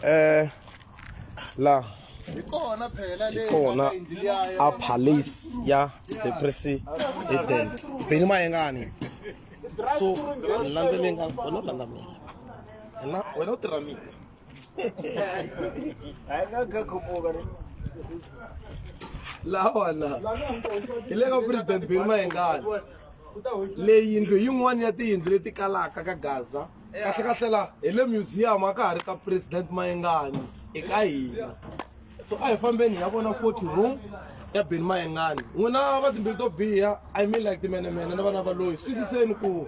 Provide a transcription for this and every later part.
eh la ikona phela le ikona a police ya the president beni mayengani so landzeleni ka wena landa mina ena wena u tirha mina hayi nga ga khumuka lawana hi le ka president beni mayengani leyi yindlu yin'wana ya tiyindlu leti kalaka ka gaza kahle kahle la hi le museum a ka ha ri ka president mayengani i ka hina so a hi fambeni hi ya vona forty room ya beni mayengani n'wina va timbilu to biha i mean like timenemene na vana va loyi swi twisiseni ku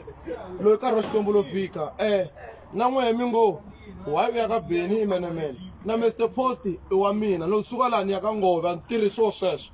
loyi karhi wa xikwembu lo fika um na n'wehe mi ngo why u ya ka beni imenemene na mr post i wa mina loko suka laha ni ya ka ngove a ni tirhi swo sweswo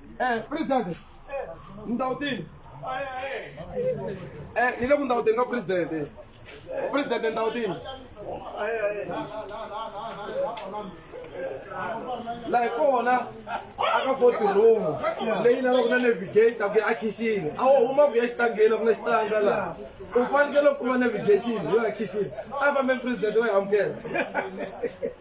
Eh, president. Eh, Ndautini. Eh, ni le ku Ndautini ka president. Eh. President Ndautini. La hi kona aka foti room leyi na loko na navigate ku ya a khixini a wo huma ku ya xitangeni ku na xitanga laha u fanekele ku kuma navigation yo ya khixini a fambe president wa yi amukela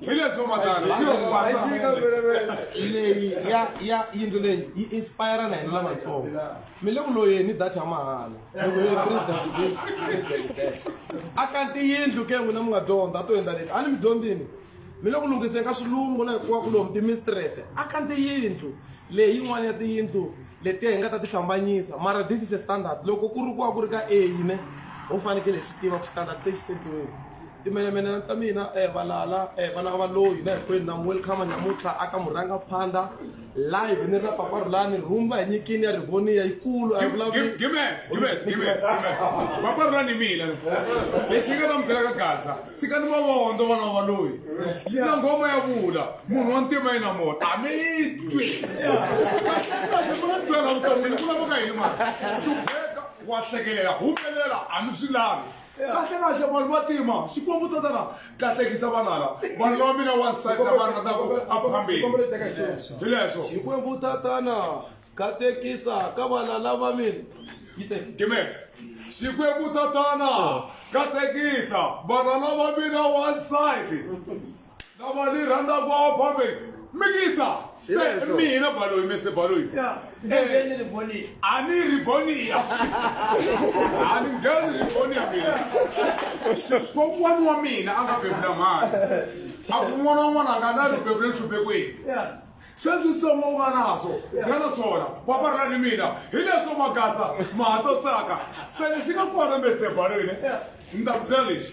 hileswo leyi ya ya yindlu leyi yi inspire na hina lavatsongo mi le ku loyeni data ya mahala a kanti yindlu ke n'wina mi nga dyondza a to endla leti a ni mi dyondzini mi le ku lunghiseni ka swilungu na hikuva ku lomu timistrese a kanti yindlu leyi yin'wana ya tiyindlu letiya hi nga ta ti hlambanyisa mara this is a standard loko ku ri ku va ku ri ka a yine ho fanekele hi swi tiva ku standard se xi sentiwile timenemene ta mina eh, valala eh, vana ka valoyi na hinkwenu na welcome namuntlha aka murhanga phanda live ni ri na papa rulani rhumba hi nyikini ya rivoniya yikulu a yi vulavuli papa rulani hi mina lexi yi nga ta mubyela ka gaza sika ni mavondo vana va loyi na nghoma ya vula munhu wa ntima yi na mona a mi yi twi kahlekahle ku na byela vuton'wini ku lavaka yini mali tubeka wa hlekelela humelela a mi swi lavi kahlekahle vanhu va tima xikwembu tatana katekisa vana la vanhu lava mina wansati lava rhandzaka a phambeni hi leswo xikwembu tatana katekisa ka vana lava mina timeka xikwembu tatana katekisa vana lava mina wansati lava ni rhandza kwao fambe mikisa se Hileswo. mina baloyi mese baloyi Ya, ngheneni livoniya. a ni rivonia a ni ngheni rivonia mina kokwana wa mina a nga bebula mhani a ku n'wana wun'wana a nga na ribebule nhluphekwini Ya. sweswitsongo u nga naso byela swona paparila ni mina hi leswo magasa mahato tsaka se lexi nga kona mesebaloyini ni ta ku byela lexi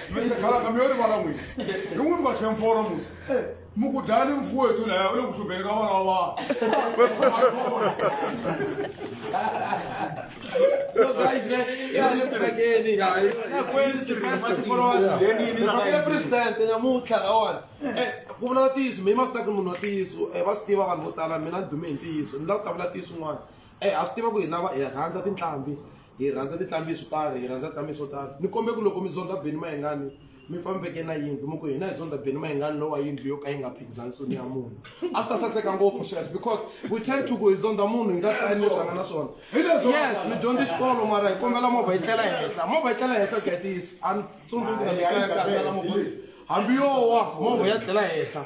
mukudhani mfuwo yetu naye ule kuhlupheleka vana wa vanhu So guys, man, yeah, look back in it. Yeah, it's not going to be my followers. Yeah, president, and I'm not like one. Ku vula ntiyiso, mi ma swi teka munhu wa ntiyiso, eh va swi tiva vanhu vo tala mina ni dume hi ntiyiso, ni lava ku ta vula ntiyiso un'wana. Eh a swi tiva ku hi lava hi rhandza tinhlambi. hi rhandza tinhlambi swo tani hi rhandza tinhlambi swo tani ni kombe ku loko mi zonda beni mayengani mi fambeke na yindlu mi ku hina hi zonda beni mayengani lowa yindlu yo ka yi nga phikizani soni ya munhu a swi ta saseka ngopfu sweswo because we tend to ku hi zonda munhu hi nga hlani leswi anga na swona yes mi dyondza xikolo mara hi kombela movha yi tlela henhla movha yi tlela henhla ku ya tiyisa a ni tsundzuki na mikaya ka tlela movha hambi yo wa movha ya tlela henhla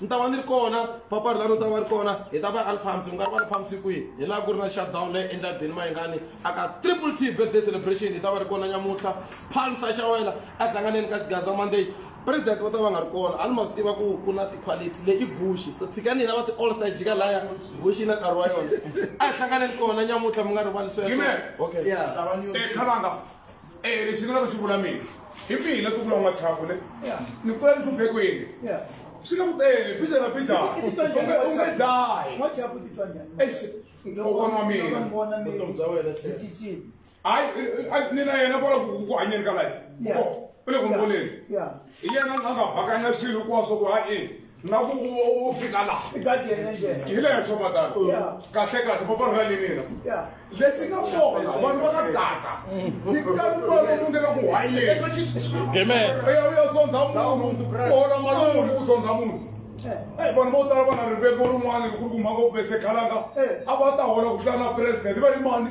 ni ta va ni ri kona papari lani u ta va ri kona hi ta va alphamsi ku nga ri va alphamsi kwihi hi laha ku ri na shutdown leyi endla bini mayingani aka triple t birthday celebration hi ta va ri kona nyamuntlha phalmsa xa wena a hlanganeni ka xigaza monday president va ta va nga ri kona a ni ma swi tiva ku ku na ti-quality leyi i guxi so tshika nina va ti-all star jika laya guxi na nkarhi wa yona a hi hlanganeni kona nyamuntlha mi nga rivali sweswo okay yeah. Teka langa. Eh, lexi ni lava xi vula mina hi mihi la tukula n'wa chapule ni kula ni hluphekweni swi le ku tele bija na bija u nge dzahi loko nwa mina hayi ni na yena vola ku hanyeni ka life u le ku mboleni hi yena a nga bakanya swilo hinkwaswo ku ha ini na ku u fika laha hi leswo matano kahle kahle va vanhu va lenina lexi nga kona vanhu va ka gaza ndzi kani mali u lunghela ku hayileuyauya zondha munhu uhola mali munhu ku zondha munhu eyi vanhu vo tala va na riveko rin'wana ku ri ku mhaka u bese khalanga a va ta hola ku tlana president va ri mani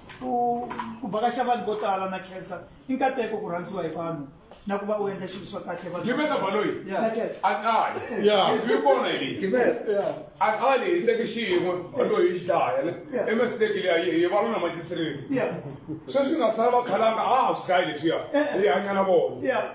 ku ku vakaxa vanhu vo tala na khensa i nkateko ku rhandziwa hi vanhu na ku va u endla xilo swa kahle vanhu- Giveta Baloyi. na khensa a khale Yeah. hi kona hi leyi Yeah. a khale hi teke xiyin'we baloyi hi xidlaya le Yeah. emesteki leyi a yi hi valona majistireti ya sweswi nga sala va khalanga a ha swi dlayi leswiya hi hanya na vona ya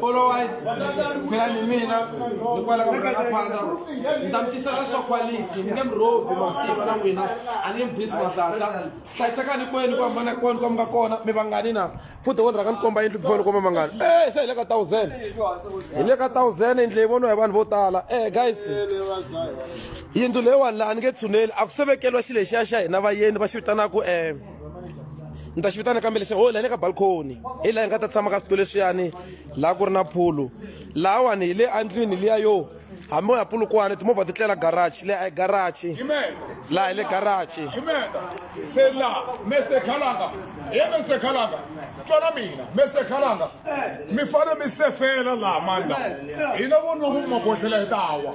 followers phela ni mina ni kwala ka rhanga phanda ni ta mi tisela swa quality ni nge mi rhobi ma swi tiva na n'wina a ni nge mi dyisi mahlahla hlayisekani kwenu ku hambana kwenu ka mi nga kona mi vangani na futhi wo ni rhanga ni komba yindlu before ni komba mangani e se hi le ka thousand hi le ka thousand yindlu leyi voniwa hi vanhu vo tala e guys yindlu leyiwani laha ni nge tshuneli a ku sevekeriwa xi lexiya xa hina vayeni va xi vitanaka um ni ta xi vitana kambe lexi ho la le ka balcony hi laha hi nga ta tshama ka switulu leswiyani laha ku ri na phulu lahawani hi le andlwini liya yo hambi u ya pulukwana timovha ti tlela garaji leyi a yi garaji laha hi le garaji se la mese khalanga he mese khalanga tswala mina mese khalanga mi fane mi sefela laha mandla hina vonoko mi maboxela hi tawa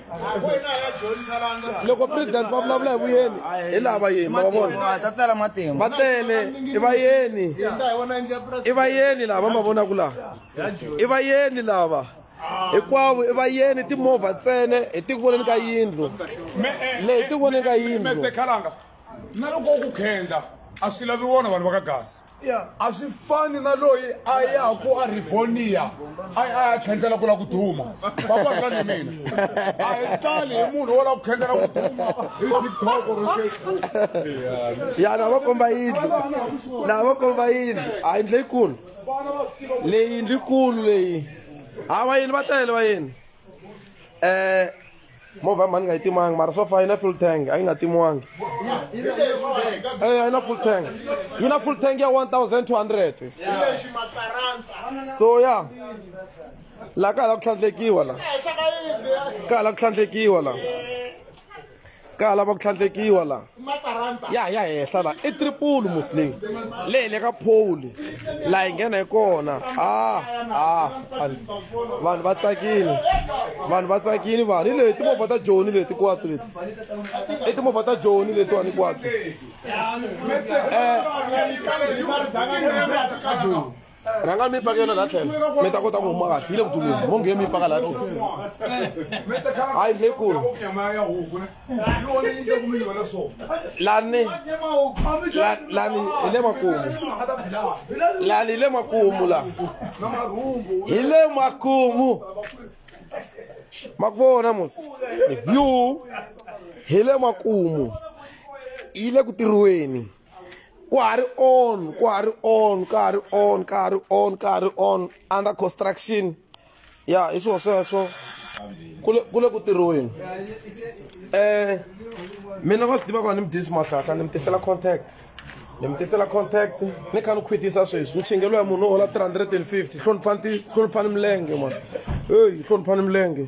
loko president va vulavula hi vuyeni hi laha vayeni ma va vona va ta tsala matimba va tele i vayeni i vayeni lava ma vonaka laha i vayeni lava hinkwavo i vayeni timovha ntsene hi tiku voneni ka yindlu leyi hi tiku voneni ka yindlu na loko u ku khendla a swi lavi wona vanhu va ka gaza a swi fani na loyi a yaku a rivonia a a ya khendlela ku la ku duma vavaka ni mina a hi tali hi munhu wo la ku khendlela ku duma hi tiktok or facebook ya na va komba yindlu na va komba yindlu a yindlu leyikulu leyi yindlu yikulu leyi ha vayini va tele vayini um movha ya mhani nga yi timanga mara so far yi na full tank a yi nga timiwangi e yi na full tank yi na full tank ya 1200 so ya laha ka hala ku tlhandlekiwa la ka hala ku tlhandlekiwa la ka hala va ku tlhandlekiwa la ya ya hehla la i triple muslim leyi le ka pole la hi nghena hi kona a a vanhu va tsakile vanhu va tsakile vanhu hi leyi timovha ta joni leti kwatu leti i timovha ta joni letiwani kwatu um rhanga mi paka yona la tlhela mi ta kota ku huma kahle yi le ku dumeni mo ngiye mi paka la tlhela a yi ndle kulu lani lani hi le makumu lani hi le makumu la hi le makumu ma ku vona mos view hi le makumu yi le ku tirhiweni ku ha ri on ku ha ri on ka ha ri on ka ha ri on ka ha ri on under construction ya hi swilo sweswo ku le ku tirhiweni um mina va swi tiva ku va ni mi dyisi mahlahla ni mi tisela contact ni mi tisela contact ni kha ni khwitisa sweswi nchingelwa ya munhu wo hola 350 hloniphani hloniphani milenge mwana eyi hloniphani milenge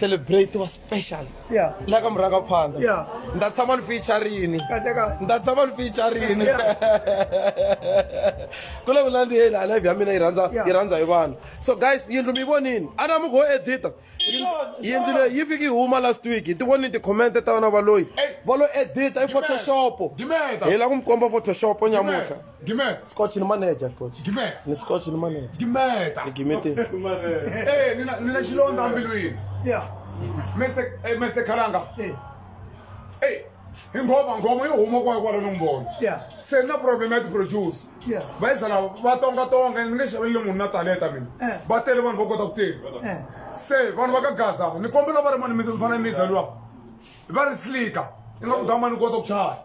celebrate wa special yeah la ka muranga phanda yeah nda tsama ni featurini kahle kahle nda tsama ni featurini ku le vula ndi yela live ya mina yi rhandza yi rhandza hi vanhu so guys yindlu mi vonini a na mi go edita yindlu leyi yi fiki yi huma last week hi ti vonini ti-comment ta vana valoyi valo edita i photoshop hi la ku mi komba photoshop nyamutlha Gimeta. Scotch ni manager Scotch. Gimeta. Ni Scotch ni manager. Gimeta. Ni Gimeta. Eh, nina nina xilondza mbilwini. Yeah. Mr. Eh, Mr. Kalanga. Eh. Hey, ingoma ngoma yo huma kwa kwalo nombolo. Yeah. Se na problem at produce. Yeah. Bayisa la va tonga tonga ni nge xavele munhu na talenta mina. Eh. Va tele vanhu va kota ku tirha. Eh. Se vanhu va ka Gaza, ni kombela va ri mani mi fana mi zalwa. Va ri slika. Ingaku dama ni kota ku chaya.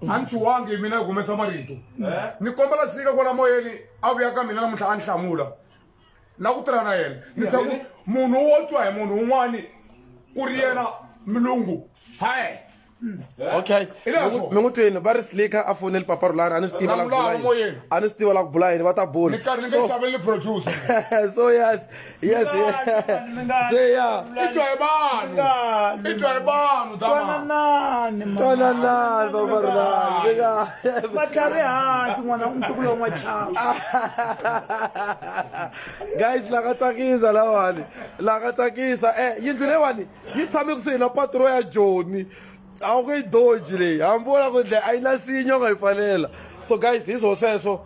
a ni chuwangi mina hi humesa marito eh? ni kombela sika kwala moyeni a vuya ka mina namuntlha a ni hlamula na ku tirha na yena ni se ku munhu wo twa hi munhu un'wani ku ri yena milungu hayi eh? okay mi n'wi twini va ri slika a foneli papa rulani a ni swi tiva la ku bula yini a ni swi tiva la ku bula yini va ta bula so yes Yes, yeah. Say yeah. Itwa hi vanhu. Ngani, Itwa hi vanhu ta mama. twananani mama. Twananani baba Rulani. Big up. vatlari hansi n'wana ntukulu wa n'wachava guys la ka tsakisa lawani la ka tsakisa eh yindlu leyiwani yi tshame kusuhi na patro ya joni a wu nge yi doji leyi hambi u la ku ndle a yi na sinyo nga yi pfalela so guys hi swo sweswo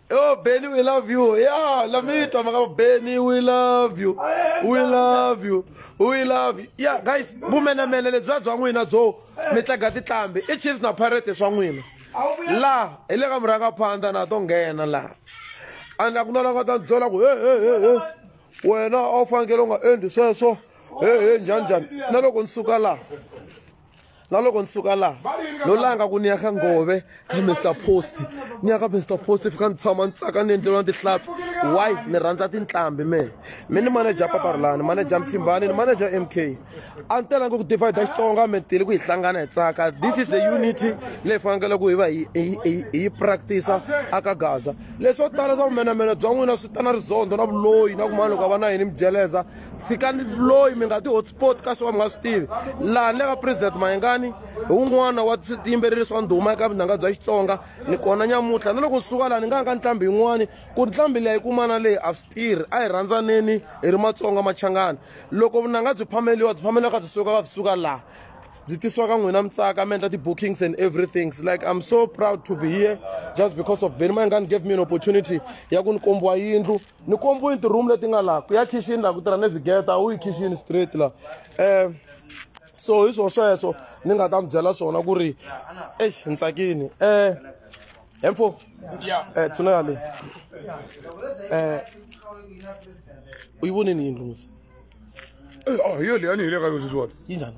Oh, Benny, we love you. Yeah, let me talk about Benny, we love you. We love you. We love you. Yeah, guys, vumenemene lebyi bya n'wina byo mi tlaga titlambi i Chiefs na Pirates swa n'wina. Laha hi le ka murhangaphandza na to nghena laha. And a ku na la nga ta byela ku he he he he wena a wu fanekele u nga endli sweswo he he njhani njhani na loko ni suka laha na loko ni suka laha no langa ku ni ya ka ngove ka mr post ni ya ka mr post fika ni tshama ni tsaka ni endleriwa tihlampfi why ni rhandza tinhlambi me mi ni manager paparilani manager mthimbani ni manager m k a ni telanga ku divide xitsonga mi tele ku hi hlangana hi tsaka this is a unity leyi fanekele ku hi va hi yi practice-a aka gaza leswo tala swa vumenamena bya n'wina swi ta na rizondo na vuloyi na ku mani loko a va na yini mi jeleza tshikani loyi mi nga ti hotspot ka swo ka mi nga swi tivi laha ni le ka president mayengani hi wun'wana wa tiyimbeleri swa ndhuma eka vunanga bya xitsonga ni kona nyamuntlha na loko ni suka laha ni nga ya ka ntlhambi yin'wani ku ntlhambi leyi ku mana leyi a swi tirhi a hi rhandzaneni hi ri matsonga machangani loko vunanga byi phameliwa byi phameliwa ka byi suka ka byi suka laha byi tisiwa ka n'wina mi tsaka mi endla ti-bookings and everything like i'm so proud to be here just because of beni mayengani gave me an opportunity ya ku ni kombiwa yindlu ni kombiwini ti-room leti nga laha ku ya khixini laha ku tirha navigeta a wu yi khixini straight laha um so hi swo sweswo ni nga ta mi byela swona ku ri exi ni tsakini um hemfo um tsuna ya leyi um u yi vonini yindlu misi yo leyi a ni hi le ka yo sweswiwona yi njhani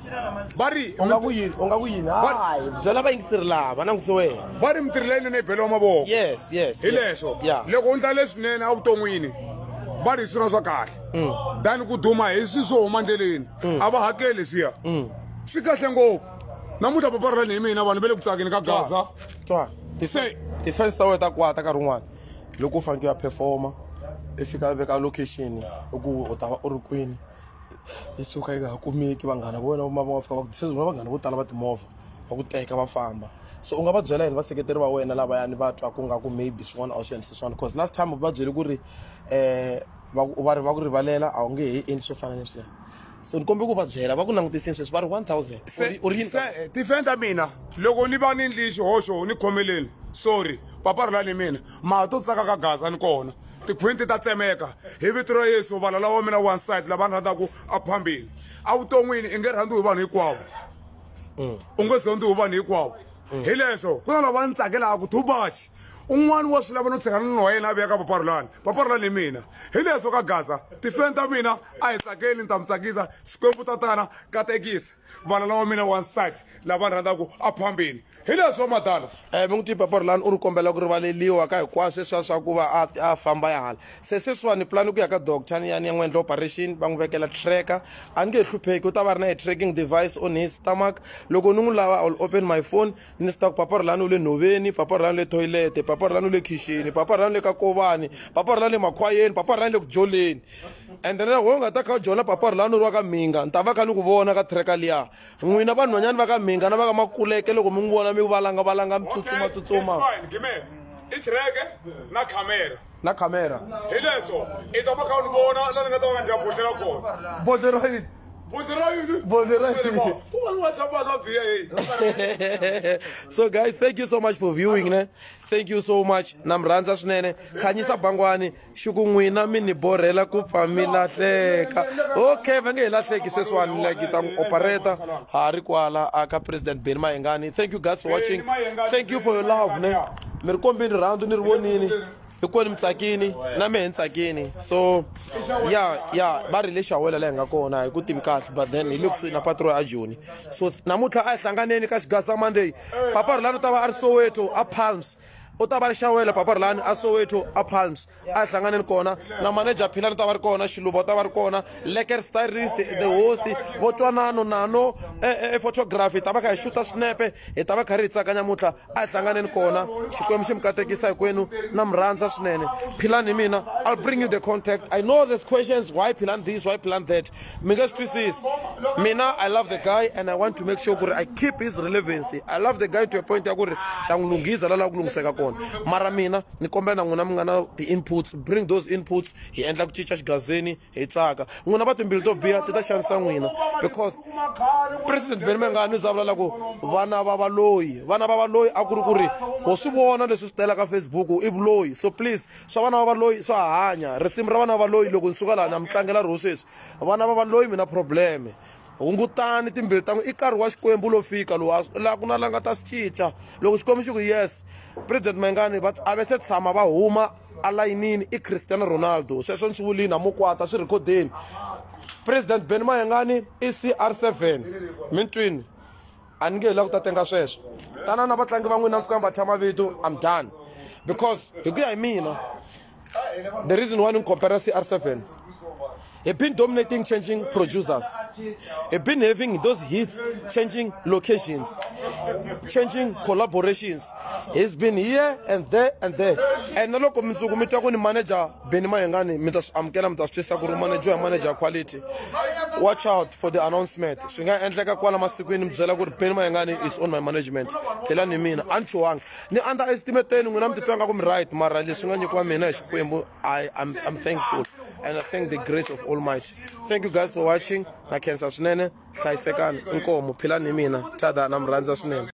va ri u nga ku yini u nga ku yini hayi byela vayingiseri lava languse wena va ri mitirhi leyinene yi beliwa mavoko yes yes hi leswo loko u ndla leswinene evuton'wini va ri hi swirho swa kahle mm. than ku duma hi swi swo huma ndleleni mm. a va hakeli leswiya mm. swi kahle ngopfu namuntlha paparelani hi mina vanhu va le ku tsakeni ka gaza se ti-fans ta wena ta kwata nkarhi wun'wana loko u faneke u ya performa i fika veka location i ku u ta va u ri kwini yi suka yi nga ha kumeki vanghana va wena va va fika va ku se na vanghana vo tala va timovha va ku teka va famba so u nga va byela yini vaseketeri va wena lavayani va twa ku nga ku maybe swin'wana a wu swi endlise swona because last time u va byele ku ri um va ri va ku rivalela a wu nge he endli swo fana leswiya so ni kombe ku va byela va ku langutisini sweswi va ri one thousand u ri yini tifeni ta mina loko ni va ni ndli xihoxo ni khomeleni sorry papa ri la ni mina mara to tsaka ka gaza ni kona tikhwinti ta tsemeka hi vito ra yesu valala wa mina wansati lava ni rhandzaka a ku fambile evuton'wini i nge rhandziwi hi vanhu hinkwavo mm. u nge zondziwi hi vanhu hinkwavo mm. hi leswo ku na lava ni tsakelaka too much un'wana wa swi lava no tshikana ni wa yena a veka paparulani paparulani hi mina hi leswo ka gaza tifeni ta mina a hi tsakeli ni ta mi tsakisa xikwembu tatana katekisa vana lawa mina wansati lava ni rhandzaka a phambeni hi leswo madala um eh, mi n'wi twi papa ri lani u ri kombela ku rivaleliwa ka hinkwaswo leswiya swa ku va a a famba ya hala se sweswiwani pulani ku ya ka doctor ni ya ni ya n'wi endla operation va n'wi vekela tracker a ni nge hlupheki u ta va ri na hi tracking device on his stomach loko ni n'wi lava ill open my phone ni swi ta ku papa ri lani u le nhoveni papa ri lani u le toilete papa ri lani u le khixini papa ri lani u le ka kovani papa ri lani le makhwayeni papa ri lani le ku dyoleni ende na wehe u nga ta kha u jola papa ri lani u ri wa ka mhinga ni ta va kha ni ku vona ka tracker liya N'wina vanhwanyani va ka Mhinga na va ka Makuleke loko mi n'wi vona mi valanga-valanga mi tsutsuma-tsutsuma. i tirheke na khamera na khamera hi leswo i ta va kha u ni vona la ni nga ta va ndya bodlela kona bodle ra yini bodle ra yini bodle ra yini ku va ni whatsapp vanhu va biya heyi so guys thank you so much for viewing ne thank you so much na mi rhandza swinene khanyisa bangwani xuku n'wina mi ni borhela ku pfa mi lahleka okay va nge hi lahleki sweswiwani like ta n'wi operator ha ri kwala aka president beni mayengani thank you guys for watching thank you for your love ne mi ri kombini rirhandzu ni ri vonini hikwenu mi tsakini na mehe ni tsakini so ya ya va ri le xawela leyi hi nga kona hi ku tivi kahle but then hi le kusuhi na patro ya joni so namuntlha a hi hlanganeni ka xigasa monday papa rilano ta va a ri soweto a palms u ta va ri xawela papa ri lani a soweto a palms a hi hlanganeni kona na manager philani u ta va ri kona xiluva u ta va ri kona leker stylist the host vo twanano nano ephotography e, e, e hi ta va kha hi xuta swinepe hi ta va kha ri hi tsaka nyamuntlha a hi hlanganeni kona xikwembu xi mi katekisa hinkwenu na mi rhandza swinene philani hi mina i'll bring you the contact i know there's questions why philani this why philani that mi nga swi twisisi mina i love the guy and i want to make sure ku ri i keep his relevancy i love the guy to a point ya ku ri ta n'wi lunghisa la lava ku lunghiseka kona mara mina ni kombela na n'wina mi nga na ti-inputs bring those inputs hi endla ku cinca xigazini hi tsaka n'wina va timbilu to biha ti ta xanisa n'wina because president beni mengani u za vulala ku vana va valoyi vana va valoyi a ku ri ku ri ho swi vona leswi swi tela ka facebook i vuloyi so please swa vana va valoyi swa hanya risimu ra vana va valoyi loko ni suka laha na mi tlangela riho sweswi vana va valoyi mi na probleme hungutani timbilu ta n'wi i nkarhi wa xikwembu lo fika lowu laha ku na la nga ta swi cinca loko xikwembu xi ku yes president mayingani va a ve se tshama va huma alayinini i cristiano ronaldo sweswo ni swi vulini a mo kwata swi rhikhodeni president ben mayengani i cr seven mi twini a ni nge hi la ku ta tenga sweswo tana na vatlangi va n'wina mi fika mi va thya mavito i'm done because hi ku ya hi mina the reason why ni ni compara cr seven He's been dominating changing producers. He's been having those hits, changing locations, changing collaborations. He's been here and there and there. And look, manager Benny Mayengani mi ta swi amukela mi ta swi twisisa ku ri manager ya manager quality watch out for the announcement swi nga endleka kwala masikwini mi byela ku ri Benny Mayengani is on my management phelani hi mina a ni chuhangi ni under estimateni n'wina mi titwa nga ku mi right mara leswi nga nyikiwa mina hi xikwembu i am I'm thankful and I thank the grace of Almighty. Thank you guys for watching. Na khensa swinene, hlayisekani, inkomo, philani hi mina. Tada na mi rhandza swinene.